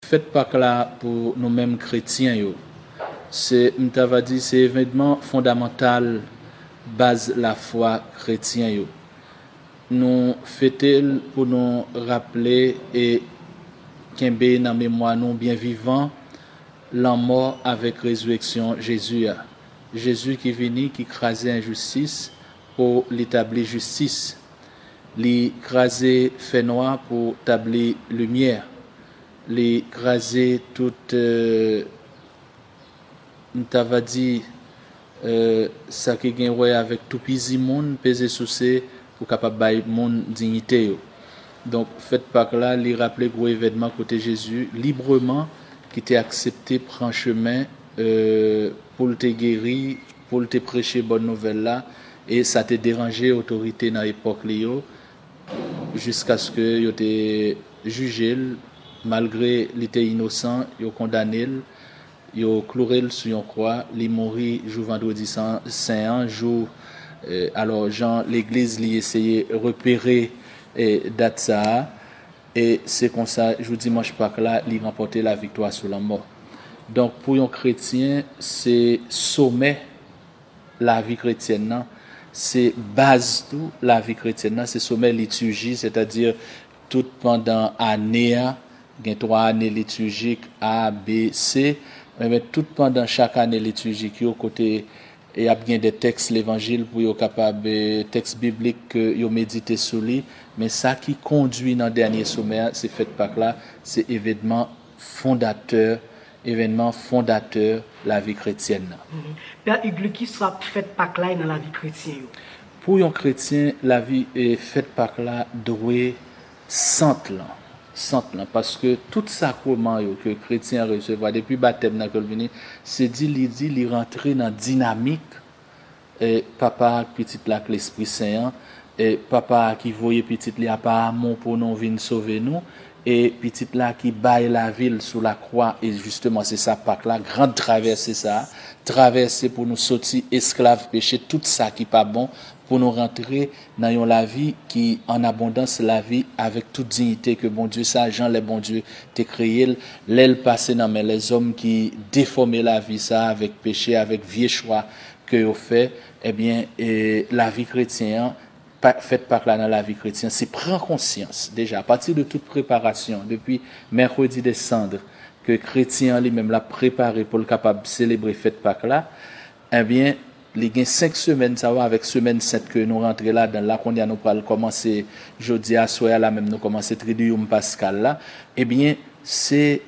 Fèt Pak la pou nou menm kretyen yo, se m ta va di se evenman fondamantal baz lafwa kretyen yo. Nou fete l pou nou raple e kenbe nan memwa nou byen vivan lanmò avèk rezireksyon Jezi a. Jezi ki vini, ki kraze enjistis pou li tabli jistis Li kraze fènwa pou tabli limyè. Li kraze tout, m ta va di, sa ki gen wè avèk toupizi moun, peze souse pou kapab bay moun dinyite yo. Donk, fèt Pak la, li raple gwo evènman kote Jezi libreman ki te aksepte pran chemen pou l te geri, pou l te preche bòn nouvèl la, E sa te deranje otorite nan epòk li yo jiskaske yo te jije l, malgre li te inosan, yo kondane l, yo kloure l sou yon kwa, li mouri jou Vandredi Sen an, jou alò jan legliz li eseye repere dat sa a, e se konsa jou Dimanch Pak la li ranpòte laviktwa sou lanmò. Donk pou yon kretyen se somè lavi kretyèn nan, se baz tou lavi kretyèn nan, se somè liturji, sètadi tout pandan ane a, gen twa ane liturjik, A, B, C, enben tout pandan chak ane liturjik yo kote y ap gen de tèks levanjil pou yo kapab, tèks biblik ke yo medite sou li, men sa ki kondui nan dènye somè a, se fèt Pak la, se evedman Fondatè evènman fondatè lavi kretyèn nan. Pè Ughli, kisa fèt Pak la ye nan lavi kretyen yo? Pou yon kretyen, lavi fèt Pak la dwe sant lan, sant lan, paske tout sakreman yo ke kretyen an resevwa depi batèm nan ke l vini, se di li di li rantre nan dinamik E Papa a ak Pitit la ak Lespri Sen an, e Papa a ki voye Pitit li a pa amou pou nou vin sove nou, e Pitit la ki bay lavi l sou lakwa, e jisteman se sa Pak la, gran travèse sa a, travèse pou nou soti esklav peche, tout sa ki pa bon, pou nou rantre nan yon lavi ki an abondans, lavi avèk tout diyite ke Bondye sa a, jan lè Bondye te kreye l, lè l pase nan men lèzòm ki defòme lavi sa a avèk peche, avèk vye chwa ke yo fè ebyen lavi kretyen an fèt pak la nan lavi kretyen se pran konsyans deja apati de tout preparasyon depi mercredi de sandre ke kretyen an li menm lap prepare poul kapab selebre fèt pak la ebyen li gen 5 semèn sa yo avèk semèn sent ke nou rantre ladanl la konnya nou pral kòmanse jodi aswè a la menm nou kòmanse tridium paskal la ebyen se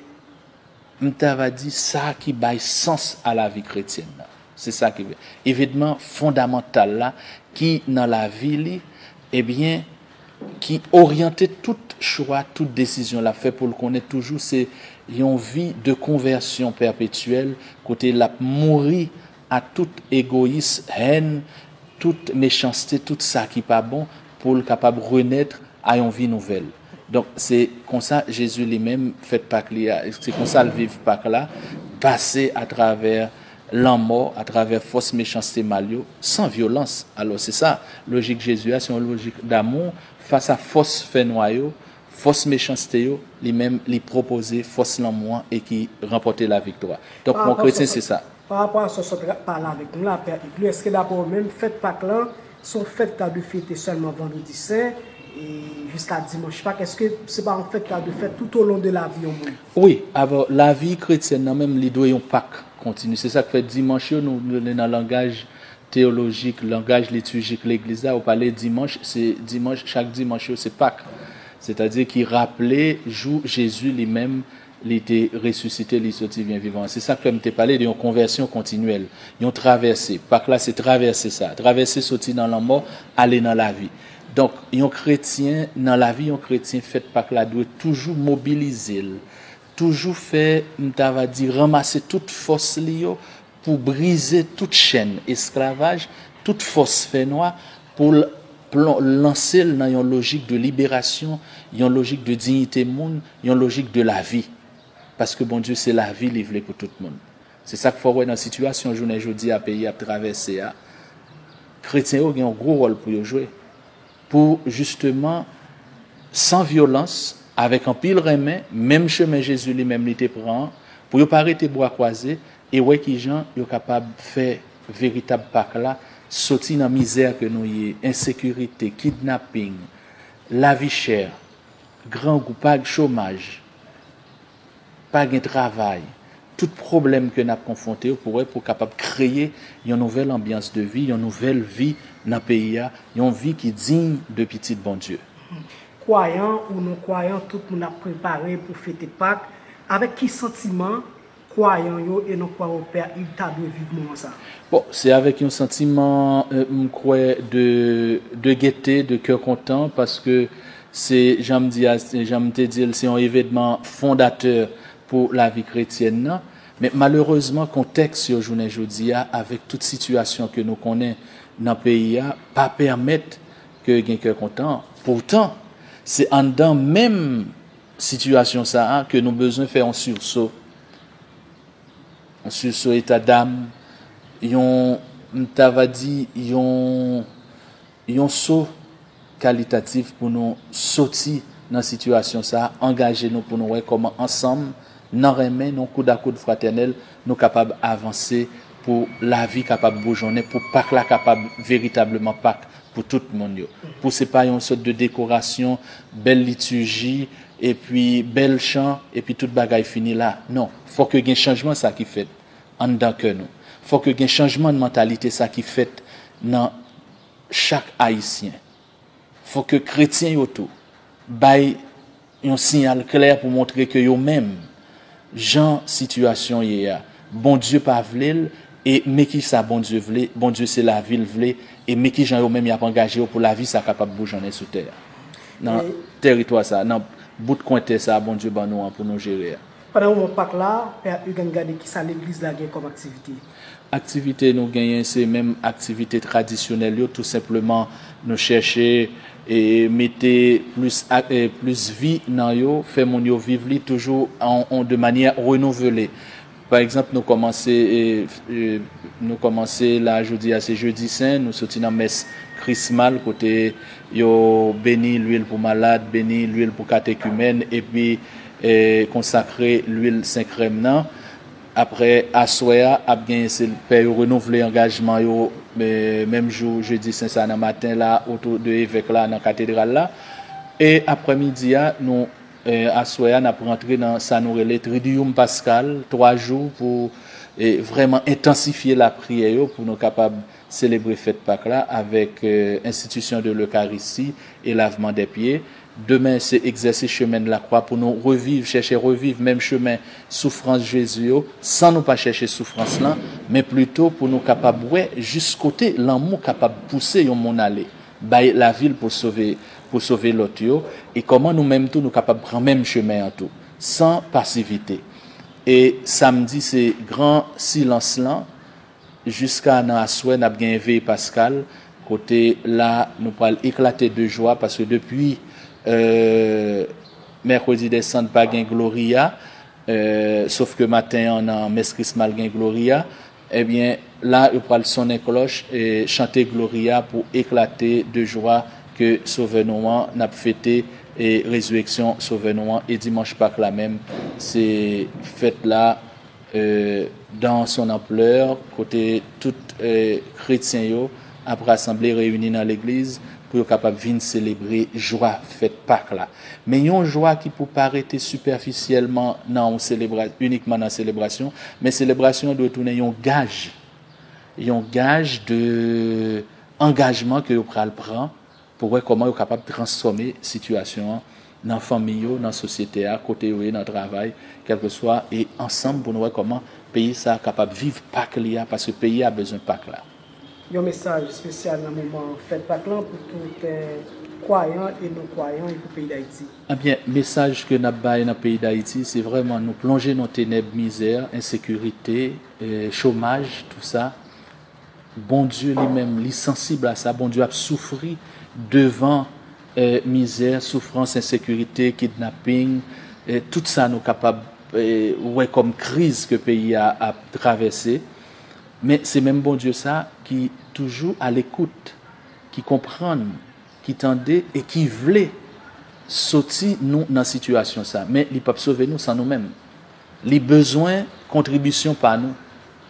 m ta va di, sa ki bay sans a lavi kretyèn nan. Se sa ki evenman fondamantal la ki nan lavi li, ebyen, ki oryante tout chwa, tout desizyon l ap fè pou l konnen toujou se yon vi de konvèsyon pèpetyèl kote l ap mouri a tout egoyis, hèn, tout mechanste, tout sa ki pa bon pou l kapab renètre a yon vi nouvèl. Donk, se konsa Jezi li menm fèt Pak li a, se konsa l viv Pak la, pase atravè lanmò, atravè fòs mechanste mal yo, san vyolans. Alò, se sa, lojik Jezi a, se yon lojik damou fas a fòs fènwa yo, fòs mechanste yo, li menm li pwopoze fòs lanmou an e ki ranpòte laviktwa. Donk, pou yon kretyen, se sa. Pa rapò a sa w sot pale avèk nou la, Pè Edlo, èske dapre ou menm, fèt Pak la se yon fèt ta dwe fete sèlman Vandredi Sen e jiska Dimanch Pak? Èske se pa yon fèt ta dwe fèt toutolon de lavi yon moun? Wi, avè w, lavi kretyèn nan menm, li dwe yon Pak kontini. Se sa k fè Dimanch yo, nou rele nan langaj teyolojik, langaj litijik Legliz la, yo pale Dimanch, se Dimanch, chak Dimanch yo se Pak. Sètadi ki raple jou Jezi li menm Li te resisite, li soti byen vivan. Se sa k fè m te pale de yon konvèsyon kontinyèl, yon travèse. Pak la se travèse sa a, travèse soti nan lanmò ale nan lavi. Donk, yon kretyen, nan lavi yon kretyen, fèt Pak la dwe toujou mobilize l, toujou fè, m ta va di, ranmase tout fòs li yo pou brize tout chèn esklavaj, tout fòs fè nwa, pou l plon lanse l nan yon lojik de liberasyon, yon lojik de dignite moun, yon lojik de lavi. Paske Bondye se lavi li vle pou tout moun. Se sa k fè w wè nan sitiyasyon jounen jodi a peyi a ap travèse a, kretyen yo gen yon gwo wòl pou yo jwe, pou jisteman san vyolans, avèk anpil renmen, menm chemen Jezi li menm li te pran an, pou yo pa rete bra kwaze, e wè kijan yo kapab fè veritab Pak la soti nan mizè ke nou ye, ensekirite, kidnaping, lavi chè, grangou, pa gen chomaj, pa gen travay, tout pwoblèm ke nap konfwonte yo pou wè pou kapab kreye yon nouvèl anbyans de vi, yon nouvèl vi nan peyi a, yon vi ki diy de pitit Bondye. Kwayan ou non kwayan tout moun ap prepare pou fete Pak, avèk ki santiman kwayan yo e non kwa ou pè a id ta dwe viv moman sa. Bon se avèk yon santiman m kwè de de gete de kè kontan paske se jan m di a jan m te di l se yon evedman fondatè pou lavi kretyèn nan men malerezman kontèks yo jounen jodi a avèk tout sitiyasyon ke nou konnen nan peyi a pa pèmèt ke gen kè kontan poutan se anndan menm sitiyasyon sa a ke nou bezwen fè yon sursaut, yon sursaut état d'âme, yon, m ta va di, yon, yon saut kalitatif pou nou soti nan sitiyasyon sa a, angaje nou pou nou wè kòman ansanm, nan renmen, nan koud a koud fratènèl, nou kapab avanse pou lavi kapab boujonnen, pou Pak la kapab veritableman Pak Pou tout moun yo. Pou se pa yon sòt de dekorasyon, bèl litiji, epi bèl chan, epi tout bagay fini la. Non. Fò ke gen chanjman sa ki fèt anndan kè nou. Fò ke gen chanjman nan mantalite sa ki fèt nan chak Ayisyen. Fò ke kretyen yo tou bay. Yon siyal klè pou montre ke yo menm, jan sitiyasyon ye a, Bondye pa vle l, e men ki sa Bondye vle, Bondye se lavi l vle, e men ki jan yo menm y ap angaje yo pou lavi sa kapab boujonnen sou tè a, nan tèritwa sa a, nan bout kwen tè sa a Bondye ban nou an pou nou jere a. Pandan moman Pak la, Pè Hugan gade kisa legliz la gen kòm aktivite. Aktivite nou genyen se menm aktivite tradisyonèl yo tou senpleman nou chèche mete plis vi nan yo, fè moun yo viv li toujou de manyè renouvele. Pa egzanp nou kòmanse nou kòmanse la jodi a se Jedi Sen, nou soti nan mès Krismal kote yo beni lwil pou malad, beni lwil pou katekimèn epi. Konsakre lwil senkrèm nan. Aprè aswè a, ap gen pè yo renouvle angajman yo menm jou Jedi Sen sa nan maten la otou de evèk la nan katedral la. E aprè midi a, nou aswè a nap rantre nan sa nou rele Triduum Pascal, 3 jou pou vrèman entansifye lapriyè yo pou nou kapab. selebre fèt Pak la avèk Institution de l'Eucharistie et Lavement des Pieds. Demen se Egzèsis Chemen de la Croix pou nou reviv, chèche reviv menm chemen soufrans Jezi yo, san nou pa chèche soufrans lan, men plito pou nou kapab wè jis kote lanmou kapab pouse yon moun ale, bay lavi l pou sove pou sove lòt yo, e kòman nou menm tou nou kapab pran menm chemen an tou, san pasivite. E samdi se gran silans lan, Jiska nan aswè nap genyen veye paskal kote la nou pral eklate de jwa paske depi Mercredi des Cendres pa gen Gloria sof ke maten an nan mès krismal gen Gloria ebyen la yo pral sonnen klòch e chante Gloria pou eklate de jwa ke sovè nou an nap fete rezireksyon sovè nou an e dimanch pak la menm se fèt la Dans son ampleur kote tout kretyen yo ap rasanble reyini nan legliz pou yo kapab vin selebre jwa fèt Pak la. Men yon jwa ki pou pa rete sipèfisyèlman nan inikman nan selebrasyon, men selebrasyon an dwe tounen yon gaj, yon gaj de angajman ke yo pral pran, Pou wè kòman yo kapab transfòme sitiyasyon an nan fanmi yo, nan sosyete a, kote yo ye, nan travay, kèlkeswa, e ansanm pou nou wè kòman peyi sa a kapab viv Pak li a, paske peyi a bezwen Pak la. Yon mesaj espesyal nan moman fèt Pak lan pou tout kwayan e non kwayan e pou peyi Dayiti. Ebyen, mesaj ke n ap bay nan peyi Dayiti, se vrèman nou plonje nan tenèb mizè, ensekirite, chomaj, tou sa. Bondye li menm li sansib a sa, Bondye ap soufri devan mizè, soufrans, ensekirite, kidnapping, tout sa nou kapab wè kòm kriz ke peyi a ap travèse. Men se menm Bondye sa ki toujou alekout, ki konprann, ki tande e ki vle soti nou nan sitiyasyon sa. Men li pap sove nou san nou menm. Li bezwen kontribisyon pa nou.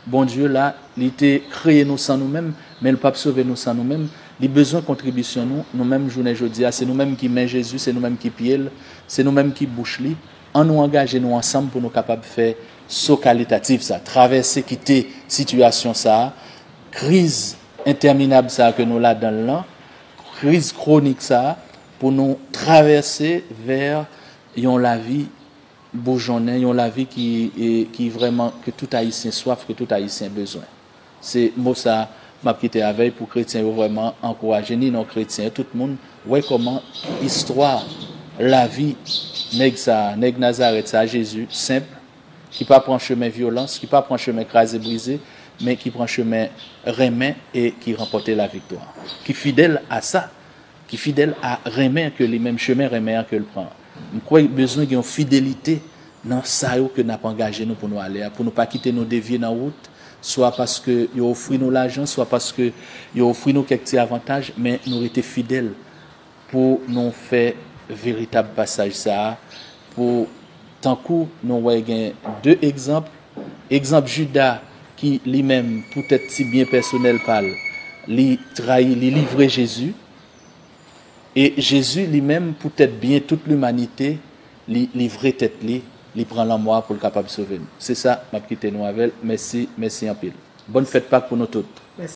Bondye la, li te kreye nou san nou menm, men li pap sove nou san nou menm. Li bezwen kontribisyon nou, nou menm jounen jodi a. Se nou menm ki men Jezi, se nou menm ki pye l, se nou menm ki bouch li. An nou angaje nou ansanm pou nou kapab fè so kalitatif sa, travèse kite sitiyasyon sa, kriz entèminab sa ke nou ladan l lan, kriz kwonik sa, pou nou travèse vè yon lavi boujonnen, yon lavi ki ki vrèman ke tout ayisyen swaf, ke tout ayisyen bezwen. Se mo sa map kite avèy pou kretyen yo vrèman ankouraje ni non kretyen tout moun wè kòman istwa lavi nèg sa, nèg Nazarèt sa Jezi senp ki pa pran chemen vyolans, ki pa pran chemen kraze brize men ki pran chemen renmen e ki ranpòte laviktwa. Ki fidèl a sa. Ki fidèl a renmen ke li menm chemen renmen an ke l pran. M kwè bezwen gen yon fidelite nan sa yo ke n ap angaje nou pou nou ale a, pou nou pa kite nou devye nan wout, swa paske yo ofri nou lajan, swa paske yo ofri nou kèk ti avantaj, men nou rete fidèl pou nou fè veritab pasaj sa a Pou tankou nou wè gen de egzanp, egzanp Juda ki li menm pou tèt ti byen pèsonèl pa l, li trayi, li livre Jezi, e Jezi li menm pou tèt byen tout limanite, li livre tèt li, li pran lanmò a pou l kapab sove nou. Se sa m ap kite nou avè l. Mèsi, mèsi anpil. Bòn fèt Pak pou nou tout.